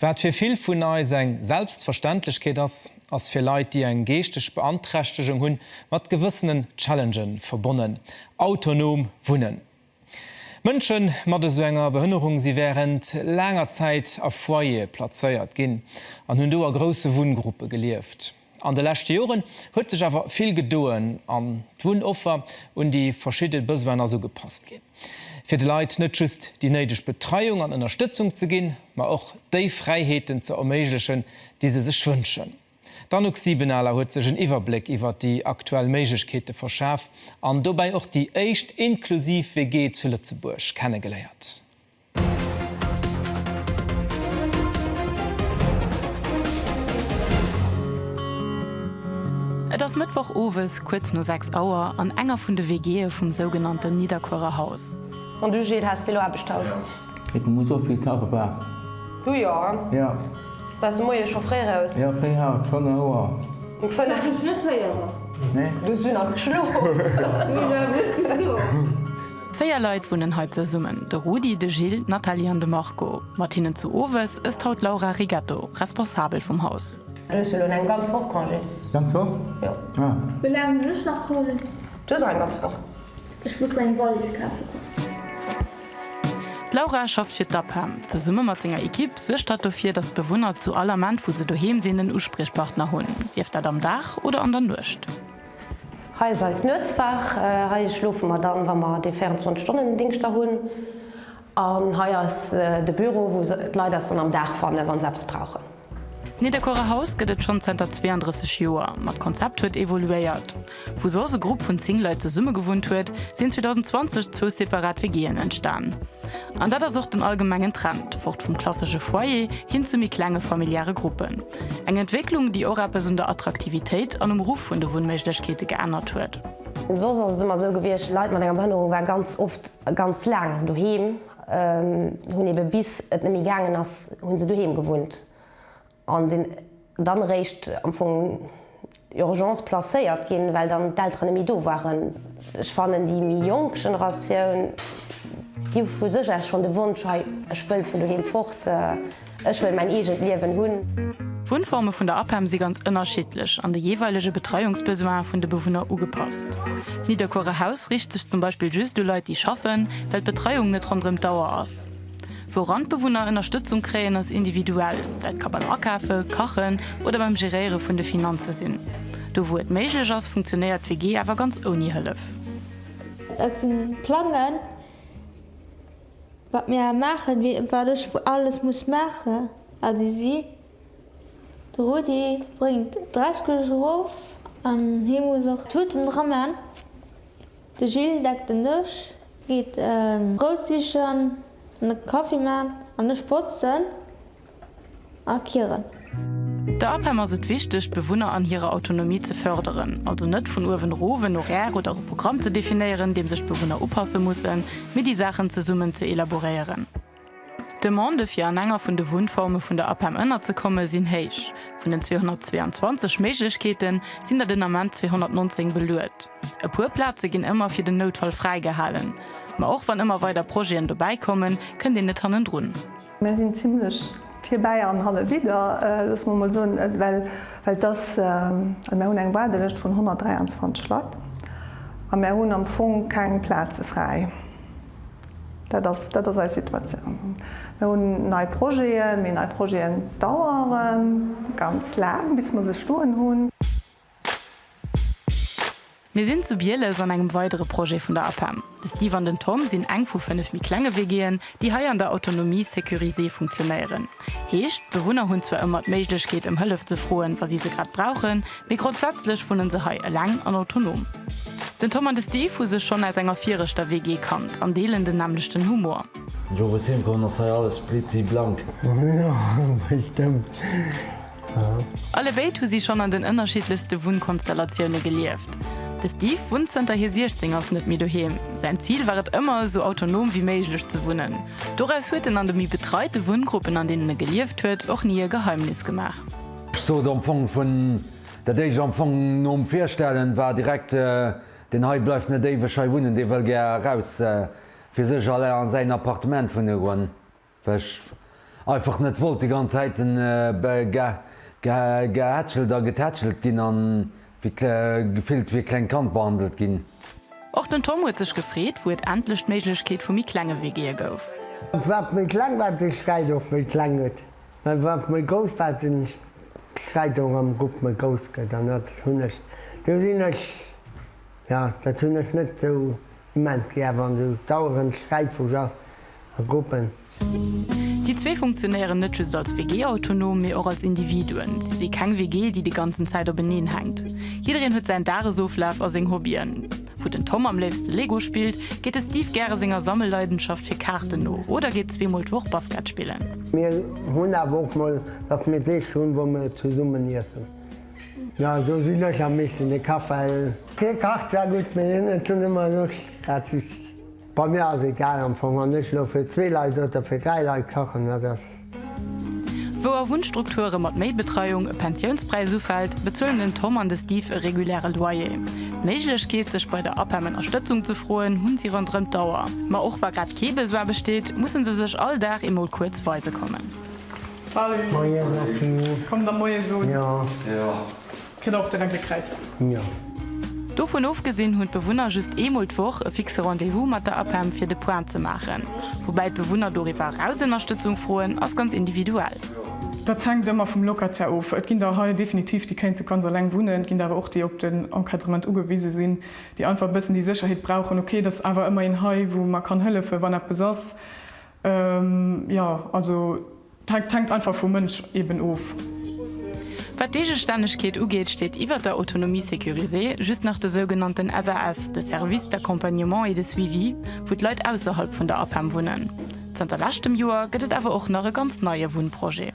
Wat fir vill vun eis eng Selbstverständlechkeet ass, ass fir Leit, déi eng geeschteg Beanträchtegung hunn, mat gewëssenen Challenge verbonnen, autonom wunnen. Mënsche mat esou enger Behënnerung si wärend laanger Zäit a Foyere plazéiert ginn an hunn do a grousse Wunngruppe gelieft. An de leschte Joren huet sech awer vill gedoen an d'Wunnoffer un déi verschidde Besoinen ass ugepasst ginn, fir de Leit net just déi néideg Betreiung an Ënnerstëtzung ze ginn, ma och déi Fräiheeten ze erméiglechen, déi se sech wënschen. D'Anouk Siebenaler huet sech en Iwwerbléck iwwert déi aktuell Méiglechkeete verschaf an dobäi och déi éischt inklusiv WG zu Lëtzebuerg kennegeléiert. Et ass Mëttwoch owes kuerz no 6 Auer an enger vun de WGe vum sougenannten Nidderkuerer Haus. Bon du Gilles, has Velo Aarbecht haut? Et muss och vill Tau gebraucht. Du jo, jo. Bass de Moie scho fréi raus? Jo, fréi haut, schonn e Auer. Um 5? Bass ech net héieren. Nee. Du hues du nach geschlof? Mir war gutt geflunn. Véier Leit wunnen hei zesummen, de Rudi, de Gilles, d'Nathalie an de Marco. Mat hinnen zu Owes ësst haut d'Laura Rigetto, Responsabel vum Haus. Du hues jo lo eng ganz Woch Congé. Ganz Woch? Jo. Ah. Wéi laang hunn ech nach Congé? Du hues och eng ganz Woch. Ech muss meng Wallis kafe goen. D'Laura schafft fir d'APEM. Zesumme mat senger Ekipp suergt hatt dofir, datt d'Bewunner zu all Ament, wou se doheem sinn, en Uspriechpartner hunn, sief dat am Dag oder an der Nuecht. Hei ass eis Nuetswaach. Hei schlofe mer dann, wa mer dee 24 Stonnen Dingscht da hunn. An hei ass de Büro, wou d'Leit eis dann am Dag fannen, wa se eppes brauchen. D'Nidderkuerer Haus gëtt et schonn zënter 32 Joer, ma d'Konzept huet evoluéiert. Wou soss e Grupp vun 10 Leit zesumme gewunnt huet, sinn 2020 zwou separat WG'en entstan. An dat ass och den allgemengen Trend, fort vum klassesche Foyer hin zu méi klenge familiäre Gruppen. Eng Entwécklung, déi och eppes un der Attraktivitéit an um Ruff vun de Wunnméiglechkeete geännert huet. Soss ass et ëmmer esou gewiescht, Leit mat enger Behënnerung waren ganz oft ganz laang doheem, hunn ebe bis et net méi gaangen ass, hu se doheem gewunnt a sinn dann eréischt am Fong, Urgence placéiert ginn, well dann d'Elteren net méi do waren. Ech fannen déi méi jonk Generatioun, déi hu vu sech aus schonn de Wonsch, hei ech wëll vun doheem fort, ech wëll mäin eegent Liewen hunn. D'Wunnforme vun der APEM si ganz ënnerschiddlech an de jeeweilege Betreiungsbesoinen vun de Bewunner ugepasst. D'Nidderkuerer Haus riicht sech zum Beispill just u Leit, déi schaffen, well d'Betreiung net ronderëm d'Auer ass. Wouran d'Bewunner Ënnerstëtzung kréien ass individuell, dat ka beim Akafe, Kachen oder beim Geréiere vun de Finanze sinn. Do wou et méiglech ass, funktionéiert d'WG awer ganz ouni Hëllef. Dat si Plangen, wat mir maachen, wéi et wat ech alles muss maachen, a si si. De Rudi bréngt d'Reisgläser erof an hie muss och d'Tuten dra man. De Gilles deckt den Dësch, geet Brout sichen an de Kaffi man an ech botzen a kieren. Der APEM ass et wichteg, d'Bewunner an hirer Autonomie ze fërderen. Also net vun uewen erof en Horaire oder e Programm ze definéieren, deem sech d'Bewunner upasse mussen, mee déi Saachen zesummen ze elaboréieren. D'Demande fir an enger vun de Wunnforme vun der APEM ënnerzekomme sinn héich. Vun den 222 Méiglechkeete sinn der den Ament 219 beluet. E puer Plaze ginn ëmmer fir den Noutfall fräigehalen. Ma och wann ëmmer weider Projeten dobäi kommen, kënnt een net hannendrun. Mir sinn zimlech virbäi an halle widder, loosse mer mol soen, well et ass, mir hunn eng Waardelëscht vun 123 Leit a mir hunn am Fong keng Plaze fräi. Dat ass, dat ass eis Situatioun. Mir hunn nei Projeten, mee nei Projeten dauere ganz laang, bis mer se stoen hunn. Mir sinn zu Bieles an engem weidere Projet vun der APEM. De Steve an den Tom sinn eng vu fënnef méi klenge WGen, déi hei an der Autonomie sécurisée funktionéieren. Heescht, d'Bewunner hunn zwar ëmmer d'Méiglechkeet ëm Hëllef ze froen, wa si se grad brauchen, mee grondsätzlech wunne se hei eleng an autonom. Den Tom an de Steve hu sech schonn aus enger viregter WG kannt an deelen den nämmlechten Humor. Jo, wou ech heemkomm ass hei alles blitzi blank. Jo, bestëmmt. Alle béid hu si schonn an den ënnerschiddlechste Wunnkonstellatioune gelieft. De Steve wunnt zënter hie 16 ass net méi doheem. Säin Zil war et ëmmer, esou autonom wéi méiglech ze wunnen. Doraus huet en an de méi betreite Wunngruppen, an deenen e gelieft huet, och ni e Geheimnis gemaach. Ech sot am Fong vun dat éischt, am Fong nom Virstellen, war direkt, Deen hei bleift net éiweg hei wunnen, dee wëll gär eraus, fir sech a säin Appartement wunne goen. Well ech einfach net wollt déi ganz Zäit gehätschelt a getätschelt ginn a gefillt wéi e klengt Kand behandelt ginn. Och den Tom huet sech gefreet, wou et endlech d'Méiglechkeet vu méi klenge WGe gouf. Wat méi kleng war, de Sträit och méi kleng gëtt, mä wat méi grouss war, de Sträit och am Grupp méi grouss gëtt. An dat hunn ech, do sinn ech, jo, dat hunn ech net esou Moment gi awer an sou dauerend Sträit vu Jaf a Gruppen. Déi zwee funktionéieren net just als WG autonom, mee och als Individuen. Si si keng WG, déi déi ganzen Zäit openeen hänkt. Jiddereen huet säin Dagesoflaf a seng Hobbyen. Wou den Tom am léifste Lego spillt, geet de Steve gäre senger Sammelleidenschaft fir Kaarten no oder geet zweemol d'Woch Basket spillen. Mir hunn awer och mol, datt mir Deeg hunn, wou mir zesummen iessen. Jo, do sinn ech am meeschten de Kafell. Hie kacht zwar gutt, mee hien huet dunn ëmmer Loscht, dat ass bei mir ass egal am Fong. Wann ech elo fir zwee Leit oder fir dräi Leit kachen, dat ass. Wou a Wunnstrukture mat méi Betreiung e Pensiounspräis ufält, bezuelen den Tom an de Steve e reguläre Loyer. D'Méiglechkeet, sech bei der APEM Ënnerstëtzung ze froen, hunn si ronderëm d'Auer. Ma och wa grad kee Besoin besteet, musse se sech all Dag eemol kuerz weise kommen. Salut. Moien Martine. Kommt der moies un. Jo. Kritt der och direkt e Kräiz. Jo. Dovun ofgesinn hunn d'Bewunner just eemol d'Woch e fixe Rendez-vous mat der APEM fir de Point ze maachen. Woubäi d'Bewunner doriwwer eraus Ënnerstëtzung froen, ass ganz individuell. Dat hänkt ëmmer vum Locataire of. Et ginn der hei definitiv déi kéinte ganz eleng wunnen, et ginn der awer och déi op den Encadrement ugewise sinn, déi einfach e bëssen déi Sécherheet brauchen, ok et ass awer ëmmer een hei wou mer kann hëllefen, wann eppes ass. Jo, also dat hänkt einfach vum Mënsch eben of. Wat d'Eegestännegkeet ugeet, steet iwwert der Autonomie sécurisée just nach de sougenannten SAS, de Service d'accompagnement et de suivi, wou d'Leit ausserhalb vun der APEM wunnen. Zanter leschtem Joer gëtt et awer och nach e ganz neie Wunnprojet.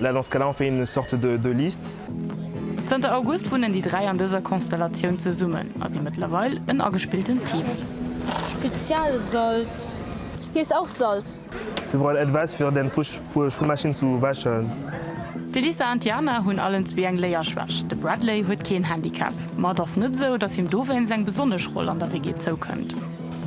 Là, dans ce cas-là, on fait une sorte de, de liste. Zënter August wunnen déi dräi an dëser Konstellatioun zesummen a si mëttlerweil en agespilltent Team. Spezialsalz heesst auch Salz. Wir brauchen etwas fir den Pusch puer Spülmaschine zu wäschen. D'Elisa an d'Jana hunn allen zwee eng Léierschwächt. De Bradley huet keen Handicap, ma et ass net esou, datt him dowéinst eng besonnesch Roll an der WG zoukënnt.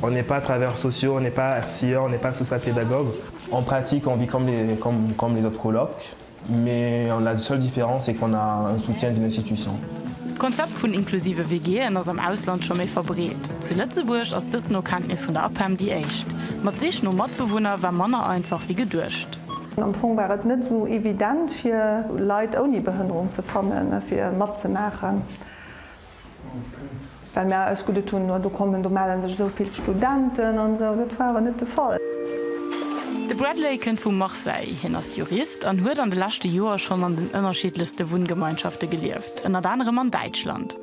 On n'est pas travailleurs sociaux, on n'est pas Erzieher, on n'est pas Social-Pédagogue. En pratique on vit comme les comme les autres colocs mais la seule différence c'est qu'on a un soutien d'une institution. D'Konzept vun inklusive WG'en ass am Ausland scho méi verbreet. Zu Lëtzebuerg ass dëst no Kenntnis vun der APEM déi éischt. Ma d'Sich no Matbewunner war manner einfach wéi geduecht. Am Fong war et net esou evident fir Leit ouni Behënnerung ze fannen, fir matzemaachen. Well mir eis gutt et hunn, no do kommen, do mellen sech esou vill Studenten an esou. Dat war awer net de Fall. De Bradley kënnt vu Marseille. Hien ass Jurist an huet an de leschte Joer schonn an den ënnerschiddlechste Wunngemeinschafte gelieft, ënnert anerem an Däitschland.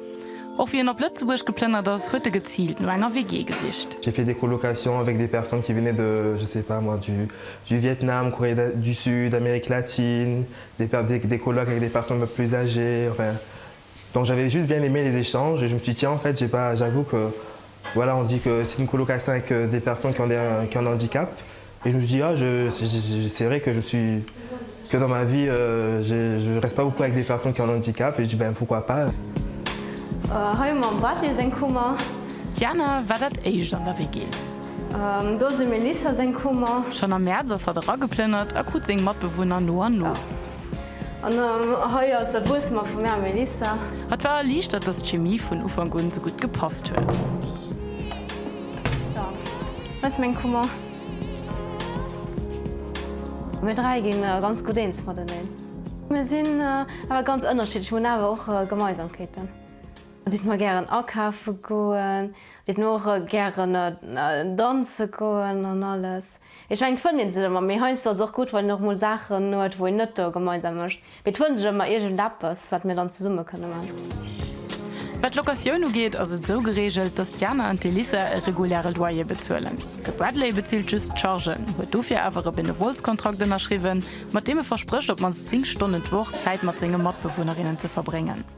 Och wéi en op Lëtzebuerg geplënnert ass, huet e geziilt no enger WG gesicht. J'ai fait des colocations avec des personnes qui venaient de, je sais pas moi, du du Vietnam, Corée du Sud, Amérique latine, des des colocs avec des personnes un peu plus âgées, enfin. Donc j'avais juste bien aimé les échanges et je me suis dit tiens en fait j'ai pas j'avoue que voilà on dit que c'est une colocation avec des personnes qui ont des qui ont un handicap et je me suis dit ah je c'est vrai que je suis que dans ma vie je je reste pas beaucoup avec des personnes qui ont un handicap et je dis ben pourquoi pas. Hei hu mer dem Bartely seng Kummer. D'Jana war dat éischt an der WG. Do ass dem Melissa seng Kummer. Schonn am Mäerz ass hatt erageplënnert a krut seng Matbewunner no an no. An hei ass e Buesmer vum Här Minister. Hatt war erliichtert, datt d'Chemie vun Ufank un esou gutt gepasst huet. Hei ass meng Kummer. Mir dräi gi ganz gutt eens mateneen. Mir sinn awer ganz ënnerschiddlech, mir hunn awer och Gemeinsamkeeten. Et deet mer gären akafe goen, et deet mer och gären danze goen an alles. Ech mengen et fënnt een sech ëmmer, mee heiansdo ass et och gutt wann een och mol Saachen huet wou een net do gemeinsam mécht, mee et fënnt sech ëmmer iergend eppes wat mir dann zesumme kënne man. Wat d'Locatioun ugeet ass et esou gereegelt, datt d'Jana an d'Elisa e reguläre Loyer bezuelen. De Bradley bezilt just d'Chargen, huet dofir awer e Benevolskontrakt ënnerschriwwen, mat deem e versprécht op d'mannst 10 Stonnen d'Woch Zäit mat senge Matbewunnerinnen ze verbréngen.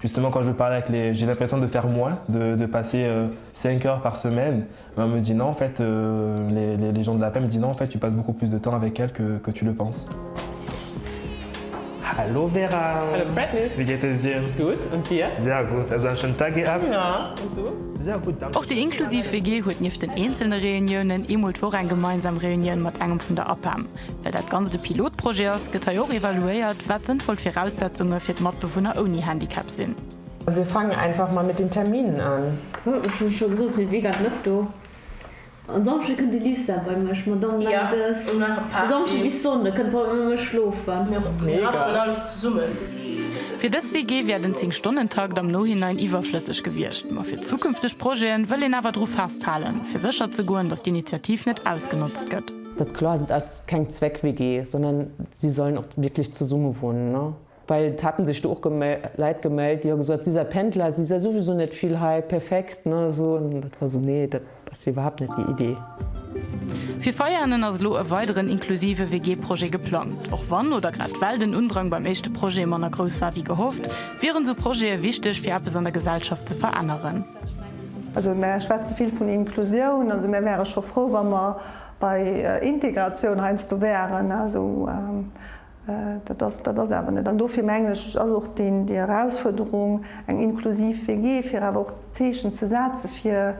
Justement quand je parle avec les j'ai l'impression de faire moins de de passer 5 heures par semaine mais on me dit non en fait les les les gens de la paix me dit non en fait tu passes beaucoup plus de temps avec elle que que tu le penses. Hallo Vera. Hallo Freddy. Wéi geet es dir? Gutt, und dir? Sehr gut. Also en schönen Tag gehabt? Ja, und du? Sehr gut, danke. Och déi inklusiv WG huet nieft den eenzelne Reuniounen ee Mol d'Woch eng gemeinsam Reunioun mat engem vun der APEM. Well dat Ganzt e Pilotprojet ass, gëtt hei och evaluéiert, wat sënnvoll Viraussetzunge fir d'Matbewunner ouni Handicap sinn. Wir fangen einfach mal mit den Terminen an. Huet mech jo scho gesot, sinn Weekend net do. En Samschde kënnt de Lisa bei mech, Madamm Mendes. Samschde bis Sonnde kënnt d'Madamm bei mech schlofen. Mir rappelen alles zesummen. Fir dës WG wär den 10 Stonnen-Takt am Nohinein iwwerflësseg gewiescht, ma fir zukünfteg Projeten wëll een awer dru festhalen, fir sécher ze goen, datt d'Initiativ net ausgenotzt gëtt. Dat kloer se ass keng Zweck-WG, sondern si sollen och wierklech zesumme wunnen, well et haten sech do och Leit gemellt, déi hu gesot, si sei Pendler, si sei souwisou net vill hei, perfekt, ne, esou. An dat war esou, nee, dat ass jo iwwerhaapt net déi Idee. Fir Veianen ass elo e weideren inklusive WG-Projet geplangt. Och wann, oder grad well, den Undrang beim éischte Projet manner grouss war wéi gehofft, wieren esou Projete wichteg fir eppes an der Gesellschaft ze veränneren. Also mär schwätze vill vun Inklusioun, also mär wäre scho frou, wa mer Bei Integratioun heiansdo wären, also dat ass dat ass awer net. An dofir mengen ech ass och déi Erausfuerderung, eng inklusiv WG, fir awer och Zeechen ze setzen, fir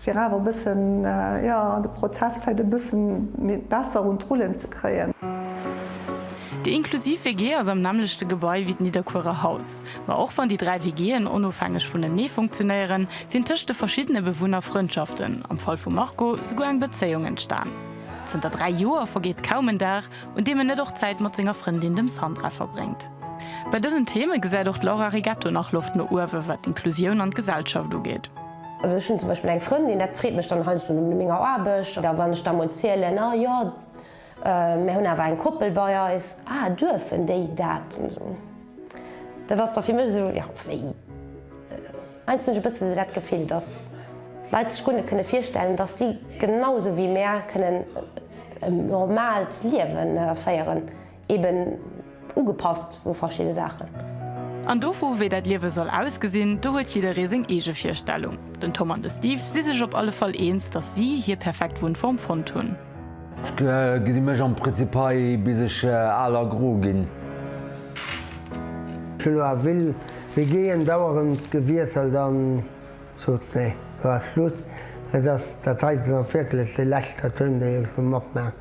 fir awer e bëssen, jo, de Prozess vläicht e bësse méi besser un d'Rullen ze kréien. Déi inklusiv WG ass am nämmlechte Gebai wéi d'Nidderkuerer Haus. Ma och wann déi dräi WG'en onofhängeg vunenee funktionéieren, sinn tëscht de verschiddene Bewunner Frëndschaften, am Fall vum Marco souguer eng Bezéiung entstan. Zënter dräi Joer vergeet kaum en Dag, un deem en net och Zäit mat senger Frëndin, dem Sandra, verbréngt. Bei dësen Theme gesäit och d'Laura Rigetto nach Loft no uewe wat d'Inklusioun an d'Gesellschaft ugeet. Also ech hunn zum Beispill eng Frëndin, dat freet mech dann heiansdo nom Menger Aarbecht, oder wann ech da mol zielen, ah jo, Mär hunn awer eng Koppel bei eis. Ah, duerfen déi dat? Dat ass da fir mech esou, jo, wéi? Heiansdo hunn ech e bëssen esou dat Gefill, dass d'Leit sech guer net kënne virstellen, dass si genau esou wéi mär kënnen en normaalt Liewen féieren. Eben. Ugepasst u verschidde Saachen. An dovu wéi dat Liewe soll ausgesinn, do huet jidderee seng eege Virstellung. Den Tom an de Steve si sech op alle Fall eens, datt si hir perfekt Wunnform fonnt hunn. Ech gesi mech am Prinzip hei bis ech al a gro ginn. D'Flo a Will, mir géien dauerend gewiesselt an sot, Nee, lo ass Schluss. Et ass dat heiten och wierklech de lescht Cartoon, dee ech sou matmaach.